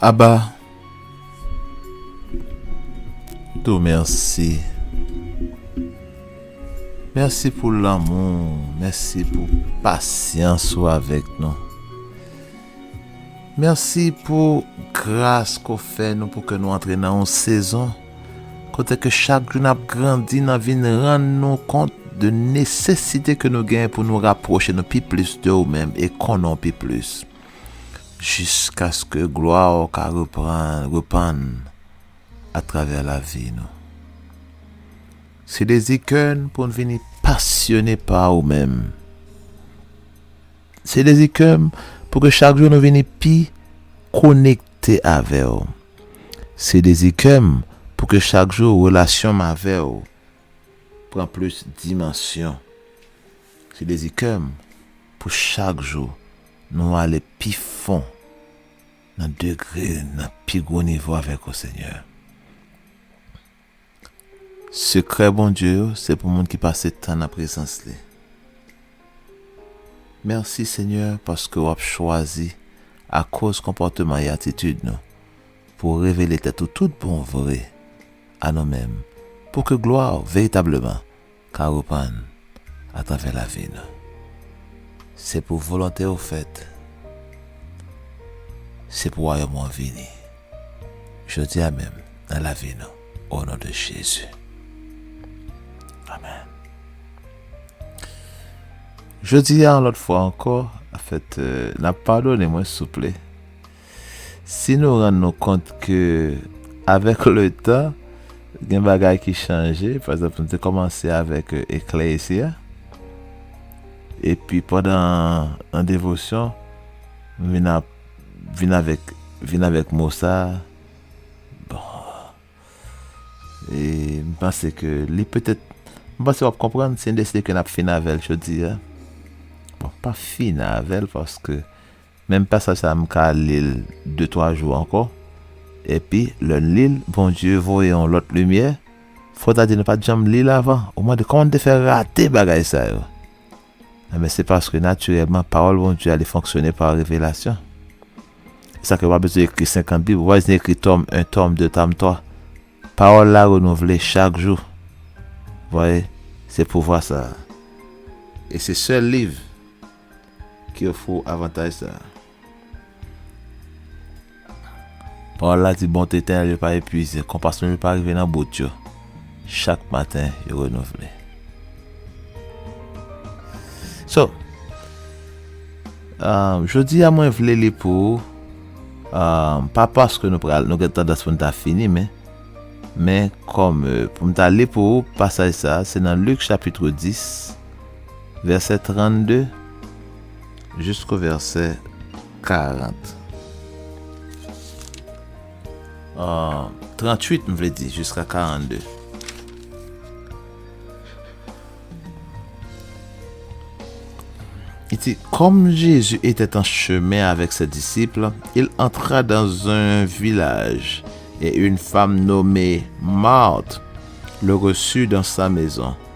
Aba to merci merci pou lanmou merci pou pasyans ou avèk nou merci pou gras ke w fè nou pou ke nou antre nan yon sezon kote ke chak jou nap grandi nan vin rann nou kont de nesesite ke nou genyen pou nou rapwoche nou pi plis de ou menm e konnen w pi plis. jiskaske glwa w ka repann atravè lavi nou. Se dezi kè n pou n vini pasyone pa ou menm. Se dezi kè m pou ke chak jou nou vini pi konekte avè w. Se dezi kè m pou ke chak jou relasyon m avè w pran plis dimansyon. Se dezi kè m pou chak jou Nou ale pi fon nan degre nan pi gwo nivo avèk ou Senyè. Sekrè Bondye yo se pou moun ki pase tan nan prezans li. Mèsi Senyè paske wap chwazi akoz konpòteman e atitid nou pou revele tèt ou tout bon vre a nou menm pou ke glwa ou veritableman Ka reprann atravè lavi nou. Se pou volonte ou fèt. Se pou wayòm ou an vini. Jodi a menm nan lavi nou o non de Jezi. Amen. Jodi a yon lòt fwa ankò, anfèt, n ap padone mwen souple. Si nou rann nou kont ke avèk letan gen bagay ki chanje, pa egzanp nou te kòmanse avèk Eklezya, epi pandan nan devosyon m vin ap vin avèk vin avèk mo sa, bon e m panse ke li petèt m panse w ap konprann si n deside ke n ap fin avè l jodi a. Bon, pa fin avè l paske Menm pasaj sa m ka li l de twa jou ankò, epi lè n li l Bondye voye yon lòt limyè, fò w ta di nou pa t janm li l avan, ou mande kòman n te fè rate bagay sa yo? Enben se paske natirèlman pawòl Bondye a li fonksyone pa revelasyon. Se sa k fè ou pa bezwen ekri 50 bib, ou pa bezwen ekri tòm 1, tòm 2, tòm 3. Pawòl la renouvle chak jou. Vwaye? Se pouvwa sa a. E se sèl liv. Ki ofri w avantaj sa a. Pawòl la di, Bonte etènèl yo pa epuize, konpasyon yo pa rive nan bout yo, chak maten yo renouvle. So, jodi a mwen vle li pou ou, pa paske nou pral, nou gen tandans pou nou ta fini men, men kòm pou m ta li pou ou pasaj sa a, se nan Lik chapitre 10. Vèsè 32 jisko vèsè 40 38 m vle di jiska 42 I di, Kòm Jezi etè an chemen avèk se disip, il antra dan zun vilaj, e un fam nome Mart le resu dan sa mezon.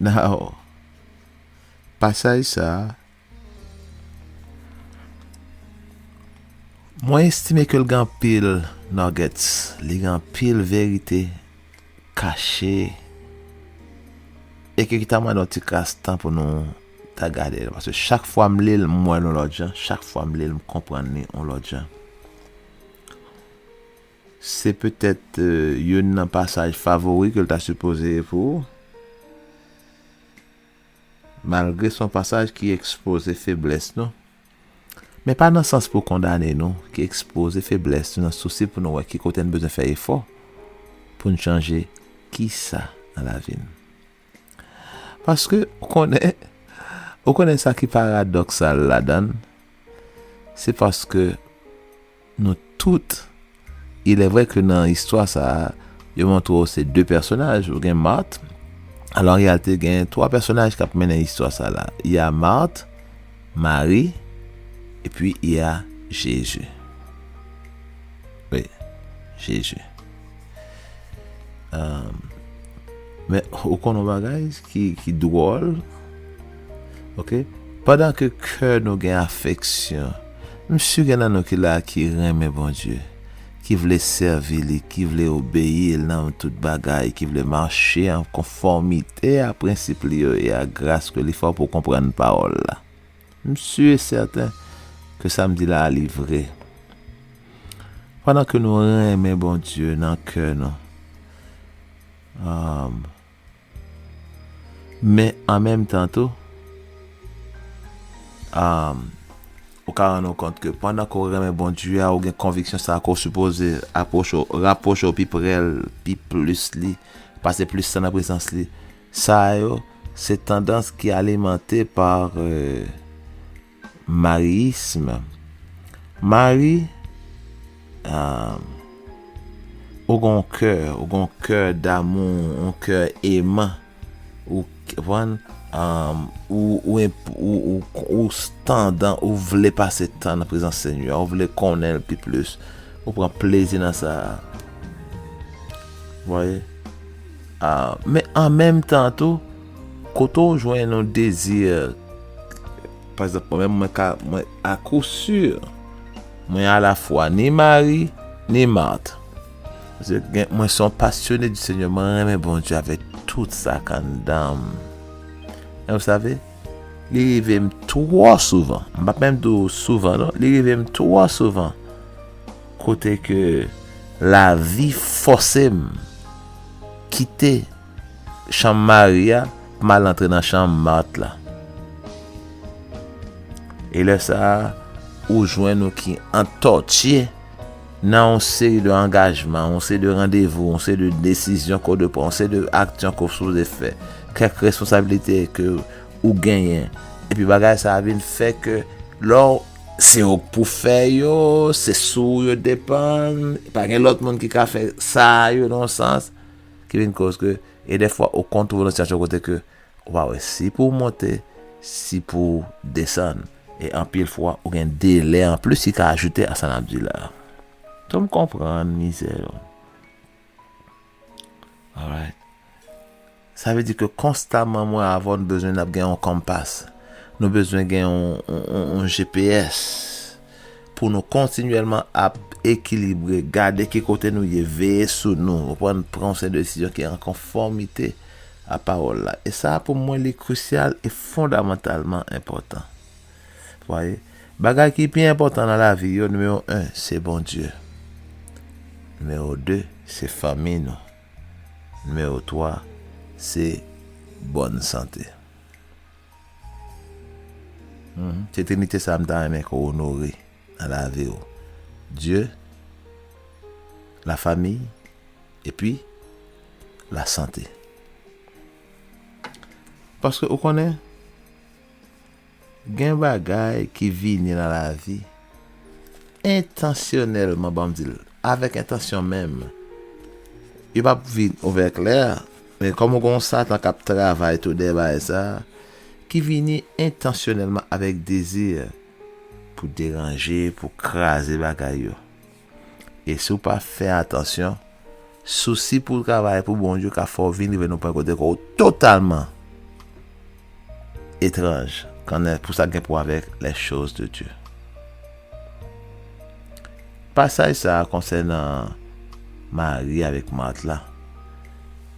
Now, pasaj sa a, mwen estime ke l gen anpil nuggets, li gen anpil verite kache, e ke ki ta mande yon ti kras tan pou nou ta gade l, paske chak fwa m li l, m wè l yon lòt jan, chak fwa m li l, m konprann li yon lòt jan. Se petèt youn nan pasaj favori ke l ta sipoze e pou ou. Malgre se yon pasaj ki ekspoze feblès nou, men pa nan sans pou kondane nou, ki ekspoze feblès nou nan sousi pou nou wè ki kote n bezwen fè efò pou n chanje kisa nan lavi n. Paske, ou konnen, ou konnen sa ki paradoksal ladan l, se paske. Nou tout. Ilèvrè ke nan istwa sa a, yo montre w se de pèsonaj, ou gen Mart, alò an reyalite gen twa pèsonaj k ap mennen istwa sa la, y a Mart, Mari, epi y a Jezi. Wi, Jezi. Men, ou konn yon bagay ki dwòl, ok, pandan ke kè nou gen afeksyon, m si gen nan nou ki la ki renmen Bondye, ki vle sèvi li, ki vle obeyi l nan tout bagay, ki vle mache an konfòmite a prensip li yo e a gras ke li fè w pou w konprann pawòl la. M sûr et certain ke sa m di la a li vre. Pandan ke nou renmen Bondye nan kè nou, aah, men an menm tan tou, aah, ou ka rann ou kont ke pandan ke w renmen Bondye a, ou gen konviksyon sa ke w sipoze apwoche w, rapwoche w pi pre l, pi plis li, pase plis tan nan prezans li. Sa yo, se tandans ki alimante pa mariyism. Mari, ou gen yon kè, ou gen yon kè damou, yon kè eman, ou konprann, ou tandan, ou vle pase tan nan prezans Senyè a, ou vle konnen L pi plis, ou pran plezi nan sa a. Ou vwaye? Men an menm tan tou, kote w jwenn yon dezi, pa egzanp mwen menm mwen ka, mwen akou si, mwen alafwa ni Mari, ni Mart. Mwen son pasyone di Senyè, mwen renmen Bondye avèk tout sa k anndan m. E w save, li rive m twò souvan, m pa p menm di w souvan non, li rive m twò souvan, kote ke lavi fòse m Kite chanm Mari a pou m al antre nan chanm Mart la. E lè sa a, ou jwenn ou ki antòtye nan yon seri de angajman, yon seri de randevou, yon seri de desizyon ke w dwe pran, yon seri de aksyon ke w sipoze fè, kèk responsabilite ke ou genyen. Epi bagay sa a vin fè ke lè w. Se ou k pou fè yo, se sou ou yo depann, pa gen lòt moun ki ka fè sa yo nan yon sans, ki vin koz ke, e dèfwa ou konn twouve nan sitiyasyon kote ke ou pa wè si pou ou monte, si pou ou desann, e anpil fwa ou gen delè anplis ki ka ajoute a sa n ap di la. Fè m konprann mizè yo. Alright. Sa vle di ke konstaman mwen avè w nou bezwen n ap gen yon compass. Nou bezwen gen yon GPS pou nou kontinyèlman ap ekilibre, gade ki kote nou ye, veye sou nou, ou konprann, pran yon seri de desizyon ki an konfòmite a pawòl la. E sa pou mwen li krisyal e fondamantalman enpòtan. Mwaye, bagay ki pi enpòtan nan lavi yo, nimewo 1, se Bondye. Nimewo 2, se fanmi nou. Nimewo 3, se bòn sante. Se trinite sa a m ta renmen ke w onore nan lavi w. Dye, lafami, epi lasante. Paske ou konnen? Gen bagay ki vini nan lavi entansyonèlman banm dil avèk entansyon menm yo pap vin ouvè klè men kòm gen yon satan kap travay tou dèyè bagay sa ki vini entansyonèlman avèk dezi pou deranje pou kraze bagay yo E si w pa fè atansyon, sousi pou w travay pou Bondye ka fè w vin rive nan yon pwen kote kò w totalman etranj kanè pou sa k gen pou wè avèk les choses de Dieu. Pasaj sa a konsènan Mari avèk Mart la,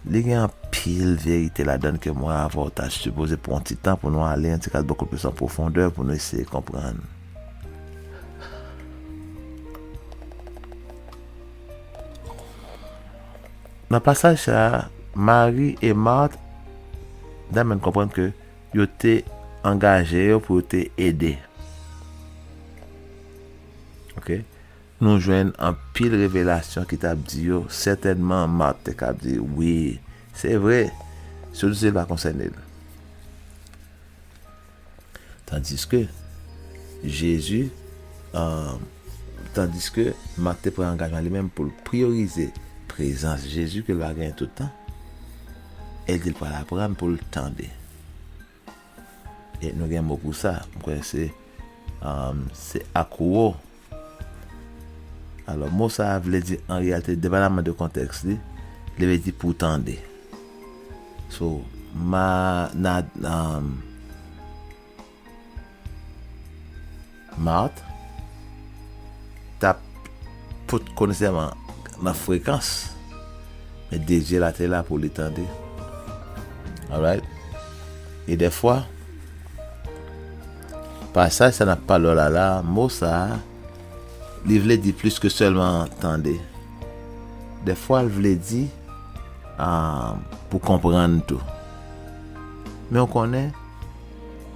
li gen anpil verite ladan l ke mwen avè w ta sipoze pran yon ti tan pou nou ale yon ti kalboko plis an pwofondè pou nou eseye konprann. Nan pasaj sa a, Mari e Mart damèn konprann ke yo te angaje yo pou yo te ede. Ok, nou jwenn anpil revelasyon ki t ap di yo, sètènman Mart te ka ap di, Wi, se vre, sosi l pa konsène l. Tandiske, Jezi, tandiske Mak te pran angajman li menm pou l priyorize prezans Jezi ke l va genyen tout tan, e l di l pral aprann pou l tande. E nou gen mo pou sa, m kwè se Akuo Alò, mo sa a vle di an reyalite, depaman de kontèks li, li vle di pou tande. So, ma na um, Marthe t ap pot konn sèman nan frekans, men dezir la te la pou li tande. Alright? E dèfwa, Pasaj sa nan Palo Lala, mo sa a, li vle di plis ke sèlman tande. Dèfwa l vle di pou konprann tou. Men ou konnen,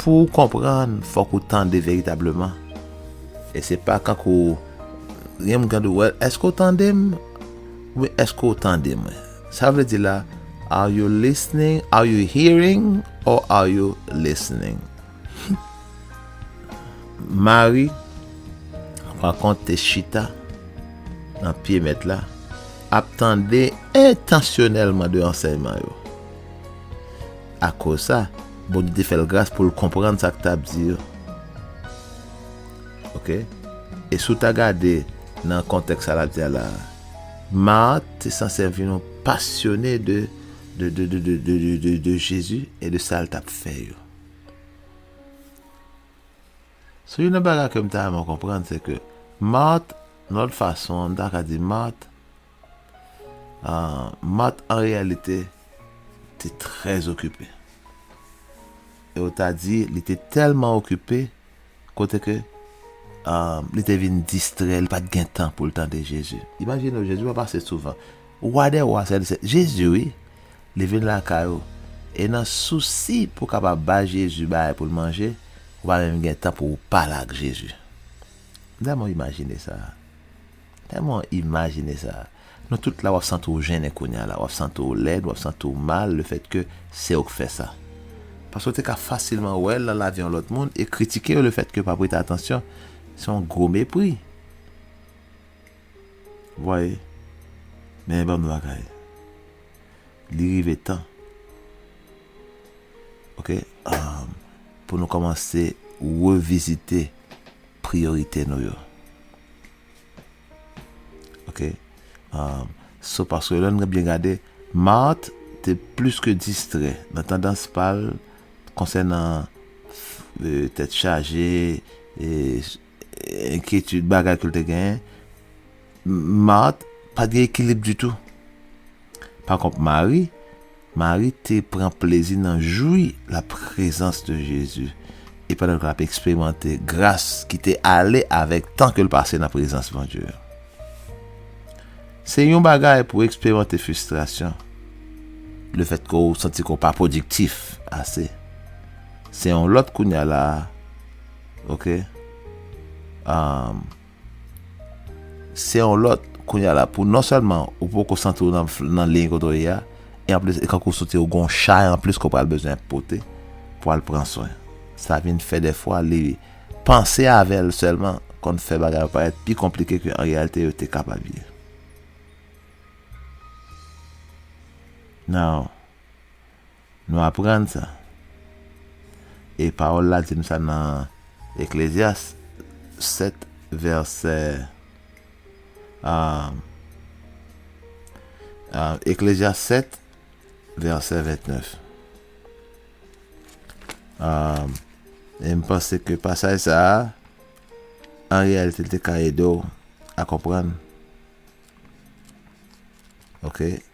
pou ou konprann, fòk ou tande veritableman. E se pa kankou, gen moun ki ap di w, wèl, èske ou tande m? Oubyen èske ou tande mwen? Sa vle di la, are you listening, are you hearing or are you listening? Mari, pa kont, te chita nan pye Mèt la, ap tande entansyonèlman de ansèyman yo. Akoz sa, Bondye te fè l gras pou l konprann sa k t ap di yo. Ok? E si w ta gade nan kontèks sa l ap di a la a, Mat te sanse vin yon pasyone de Jezi e de sa l t ap fè yo. Sou youn nan bagay ke m ta renmen w konprann se ke Mart, yon lòt fason m ta ka di Mart, Mart an reyalite te trè okipe. E w ta di li te tèlman okipe. kote ke li te vin distrè, li pa t gen tan pou l tande Jezi. Imajine w, Jezi pa pase souvan. Wa dè wa, Sèl Sèl, Jezi wi! Li vin lakay ou, e nan sousi pou w kapab bay Jezi bagay pou l manje, ou pa menm gen tan pou w pale ak Jezi. M dèlman imajine sa. Tèlman imajine sa. Nou tout la wap santi w jennen kounya la, wap santi w lèd, wap santi w mal le fèt ke se ou k fè sa. Paske w te ka fasilman wè l nan lavi yon lòt moun e kritike yo le fèt ke yo pa prete atansyon. Se yon gwo mepri. Ou vwaye? Men banm yon bagay. Li rive tan. Ok? Pou nou kòmanse revizite priyorite nou yo. Ok. Um, so paske lè nou byen gade, Mart te plis ke distrè nan tandans pal konsènan euh, tèt chaje, e, enkyetid bagay ke l te gen. Mart pa gen ekilib ditou. Pa kont Mari, Mari te pran plezi nan jwi la prezans de Jezi e pandan ke lap eksperimante gras ki te ale avèk tan ke l pase nan prezans Bondye. Se yon bagay pou eksperimante fristrasyon, le fèt ke w santi ke w pa pwodiktif ase. Se yon lòt kounya la a, ok? Aah. Se yon lòt, kounye a la pou non sèlman ou poko santi w nan liy kote w ye a, e anplis e kankou soti ou gen yon chay anplis ke w pral bezwen pote pou al pran swen. Sa vin fè dèfwa li panse avè l sèlman konn fè bagay yo parèt pi konplike ke an reyalite yo te kapab ye. Nan. Nou aprann sa. E pawòl la di nou sa nan Eklezyas 7 vèsè Eklezyas 7 vèsè 29. E m panse ke pasaj sa a, an reyalite l te ka ede w a konprann. Ok.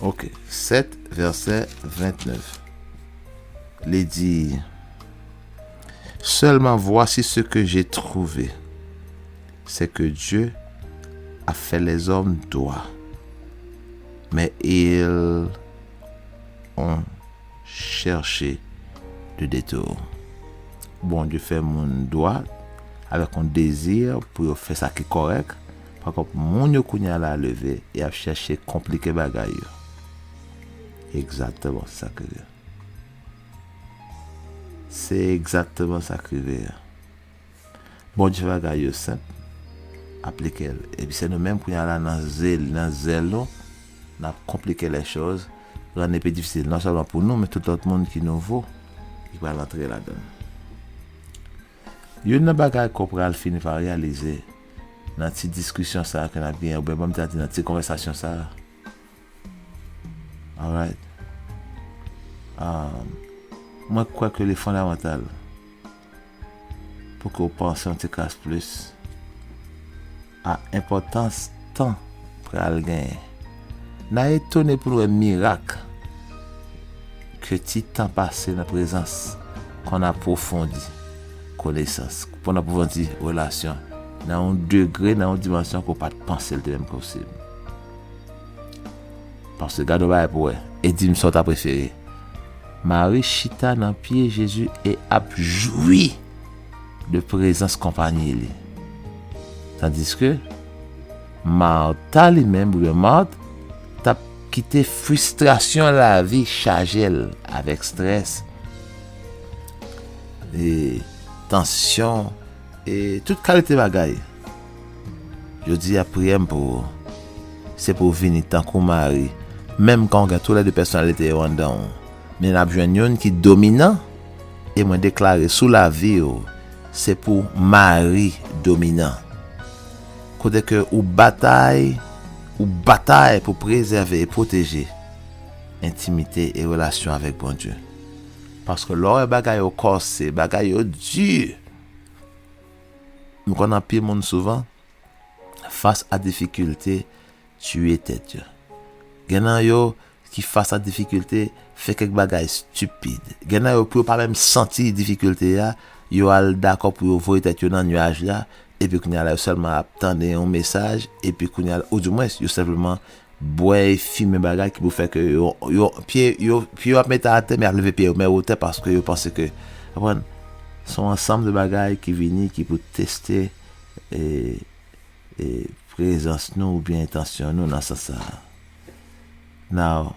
Ok, 7 vèsè 29 Li di Sèlman vwasi se ke je twouve se ke Dye a fè lèzòm dwa men il on chercher le detour. Bondye fè moun dwa avèk yon dezi pou yo fè sa ki kòrèk, pakont moun yo kounye a la leve e ap chèche konplike bagay yo. Egzakteman se sa k rive. Se egzakteman sa k rive. Bòdje bagay yo senp, aplike l. Epi se nou menm kounya la nan zeli, nan zèl nou, n ap konplike lè choz, rann li pi difisil non sèlman pou nou men tout lòt moun ki nouvo ki pral antre ladan l. Youn nan bagay ke w pral fini pa reyalize nan ti diskisyon sa a ke n ap genyen oubyen m ta di nan ti konvèsasyon sa a, alright, mwen kwè ke li fondamantal. pou ke w panse yon ti kras plis a enpòtans tan pral genyen. N a etone pou n wè mirak ke ti tan pase nan prezans konn apwofondi konesans, konn apwofondi relasyon nan yon degre, nan yon dimansyon ke w pa t panse l te menm posib. Paske gade yon bagay pou w wè, e di m sa w ta prefere. Mari chita nan pye Jezi e ap jwi de prezans konpanyi li. Tandiske, Marta li menm, oubyen Mart, t ap kite fristrasyon lavi chaje l avèk strès e tansyon e tout kalite bagay. Jodi a priyè m pou ou se pou w vini tankou Mari, menm kan w gen tou lè de pèsonalite yo anndan w, men n ap jwenn youn ki dominan e mwen deklare sou lavi w se pou Mari dominan. Kote ke ou batay, ou batay pou prezève e pwoteje entimite e relasyon avèk Bondye. Paske lè w wè bagay yo kòse, bagay yo di! M konn anpil moun souvan fas a difikilte tiye tèt yo. Gen nan yo ki fas a difikilte fè kèk bagay stipid. Gen nan yo pou yo pa menm santi difikilte a, yo al dakò pou yo voye tèt yo nan nuaj la epi kounye a la yo sèlman ap tande yon mesaj epi kounye a la, oudimwens yo senpleman bwè e fimen bagay ki pou fè ke yo, yo, pye yo, pye yo ap mete atè men y ap leve pye yo men wotè paske yo panse ke, konprann? Se yon ansanm de bagay ki vini ki pou teste e, e prezans nou oubyen entansyon nou nan sans sa a. Now,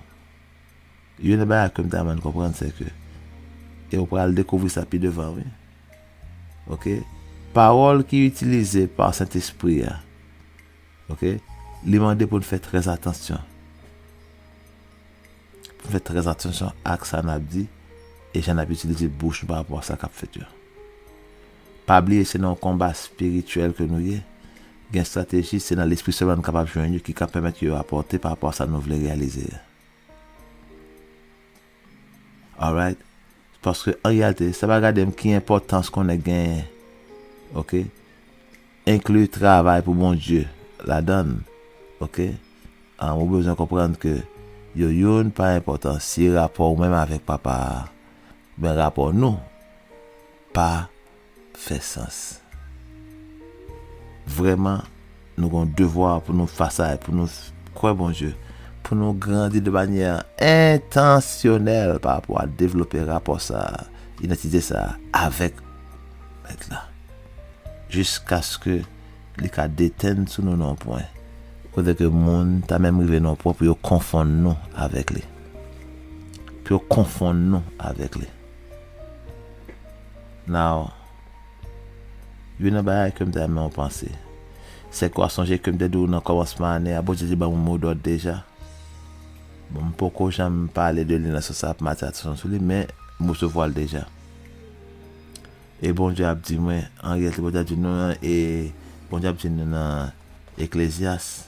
youn nan bagay ke m ta renmen nou konprann se ke, e ou pral dekouvri sa pi devan wi, ok, pawòl ki itilize pa Sentespri a, Ok, li mande pou n fè trè atansyon. Pou n fè trè atansyon ak sa n ap di e jan n ap itilize bouch nou pa rapò a sa k ap fèt yo. Pa bliye se nan yon konba espirityèl ke nou ye, gen estrateji se nan lespri sèlman nou kapab jwenn yo ki ka pèmèt yo rapòte pa rapò a sa nou vle reyalize a. Alright paske an reyalite sa pa gade m ki enpòtans kon nèg genyen ok enkli travay pou Bondye ladan l ok an ou bezwen konprann ke yo youn pa enpòtansye rapò ou menm avèk papa a men rapò nou pa fè sans. Vrèman, nou gen yon devwa pou nou fasa e pou nou kwè Bondye, pou nou grandi de manyè entansyonèl pa rapò a devlope rapò sa a, idantite sa a, avèk Mèt la, jiskaske li ka detenn sou nou nan yon pwen kote ke moun ta menm rive nan yon pwen pou yo konfonn nou avèk li, pou yo konfonn nou avèk li. Now, youn nan bagay ke m ta renmen ou panse, sèke w a sonje ke m te di w nan kòmansman ane a, Bondye te ban m yon mo dòd deja. Bon, m poko janm pale de li nan sans ap m atire atansyon sou li, men m resevwa l deja. E Bondye ap di mwen, an reyalite Bondye ap di nou nan, e Bondye ap di nou nan Eklezyas,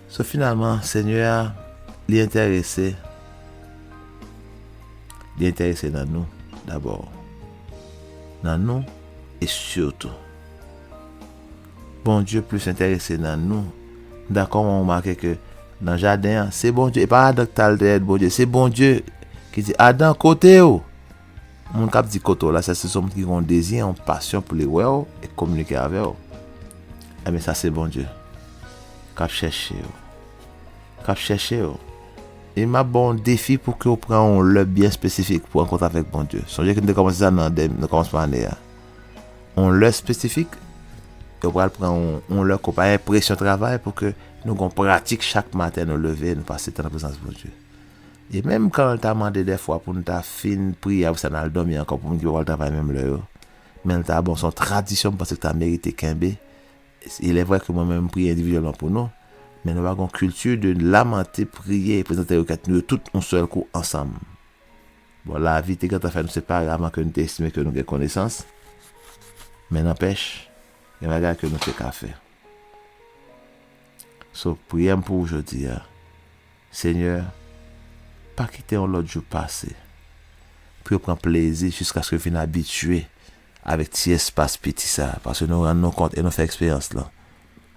So finalman Senyè a li enterese li enterese nan nou dabò. Nan nou e sitou. Bondye plis enterese nan nou. M dakò mwen remake ke nan jaden an se Bondye e pa Adan ki t al dèyè Bondye, se Bondye ki di Adan kote ou? Moun kap di kote w la sa se sou moun ki gen yon dezi, yon pasyon pou li wè w e kominike avè w. Enben sa se Bondye kap chèche w. Kap chèche w. E map ba w yon defi pou ke w pran yon lè byen espesifik pou rankontre avèk Bondye. Sonje ke nou te kòmanse sa nan kòmansman ane a. Yon lè espesifik e w pral pran yon lè ke w pa gen presyon travay pou ke nou gen yon pratik chak maten nou leve nou pase tan nan prezans Bondye. E menm kan l ta mande dèfwa pou n ta fin priye apre sa n al dòmi ankò pou moun ki pa pral travay menm lè yo, men l ta bon, se yon tradisyon m panse ki ta merite kenbe. Ilèvre ke mwen menm m priye endividyèlman pou nou, men nou pa gen yon kilti de lamante, priye e prezante rekèt nou yo tout yon sèl kou ansanm. Bon, lavi te gentan fè nou separe avan ke nou te estime ke nou gen konesans, men nanpèch, gen bagay ke nou te ka fè. So, priyè m pou ou jodi a. Senyè, pa kite yon lòt jou pase pou yo pran plezi jiskaske yo fin abitye avèk ti espas piti sa a, paske nou rann nou kont e nou fè eksperyans lan,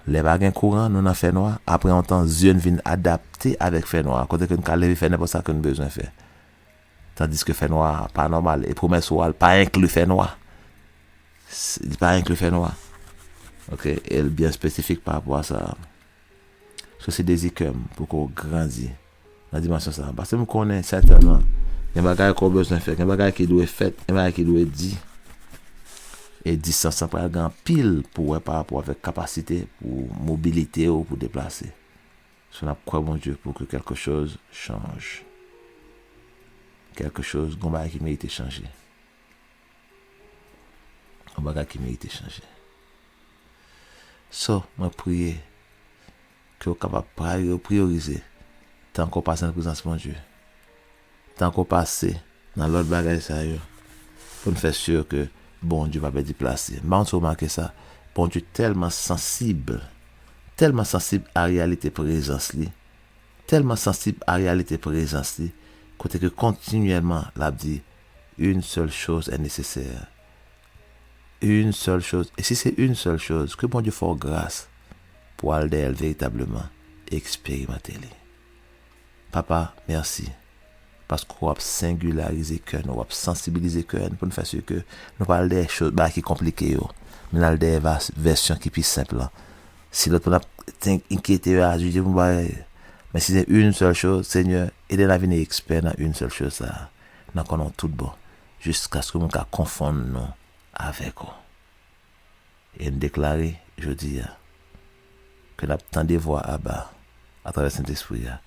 lè pa gen kouran, nou nan fènwa, apre yon tan zye n vin adapte avèk fènwa a kote ke n ka leve fè nenpòt sa ke n bezwen fè, tandiske fènwa a pa nòmal e pwomès ou a l pa enkli fènwa. Li pa enkli fènwa. Ok, e l byen espesifik parapò a sa a. So se dezi kè m pou ke w grandi nan dimansyon sa a. Paske m konnen sètènman gen bagay ke w bezwen fè, gen bagay ki dwe fèt, gen bagay ki dwe di. E distans lan pral gen anpil pou wè pa rapò avèk kapasite pou mobilite w pou deplase. So n ap kwè Bondye pou ke kèlke choz chanj. Kèlke choz, gon bagay ki merite chanje. Yon bagay ki merite chanje. So, mwen priye ke ou kapab priyorize tan ke ou pase nan prezans Bondye, tan ke ou pase nan lòt bagay sa yo, pou n fè si ke Bondye pa pèdi plas li. M pa konn si w remake sa, Bondye tèlman sansib, tèlman sansib a reyalite prezans li, tèlman sansib a reyalite prezans li, kote ke kontinyèlman l ap di, Une seule chose est nécessaire Une seule chose E si se une seule chose ke Bondye fè w gras pou w al dèyè l veritableman e eksperimante li. Papa, mèsi paske w ap sengilarize kè nou, w ap sansibilize kè n pou n fè si ke nou pa al dèyè cho, bagay ki konplike yo, men n al dèyè va, vèsyon ki pi senp lan. Si lòt moun ap ten, enkyete yo, ajije pou bagay, men si se une seule chose, Senyè, ede n a vini ekspè nan une seule chose sa a, Nan kò nou tout bon. Jiskaske moun ka konfonn nou avèk ou. E n deklare, jodi a, ke n ap tande vwa Aba atravè Sentespri a,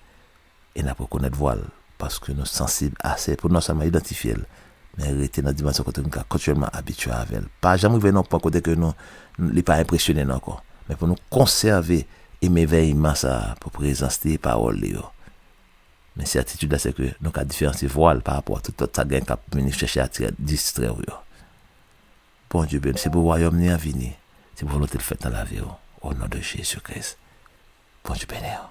e n ap rekonèt vwa l, paske nou sansib ase pou n non sèlman idantifye l, men rete nan dimansyon kote nou ka kontinyèlman abitye avè l. Pa janm rive nan yon pwen kote ke nou, li pa enpresyone n ankò. Men pou nou konsève emèvèyman sa a pou prezans li e pawòl li yo, Men sètitid la sèke nou ka diferansye vwa l parapò a tout lòt sa gen k ap vini chèche atire l, distrè w yo. Bondye beni w. Se pou wayòm li an vini. Se pou volonte l fèt nan lavi w. Onon de Jezi Kris. Bondye beni w.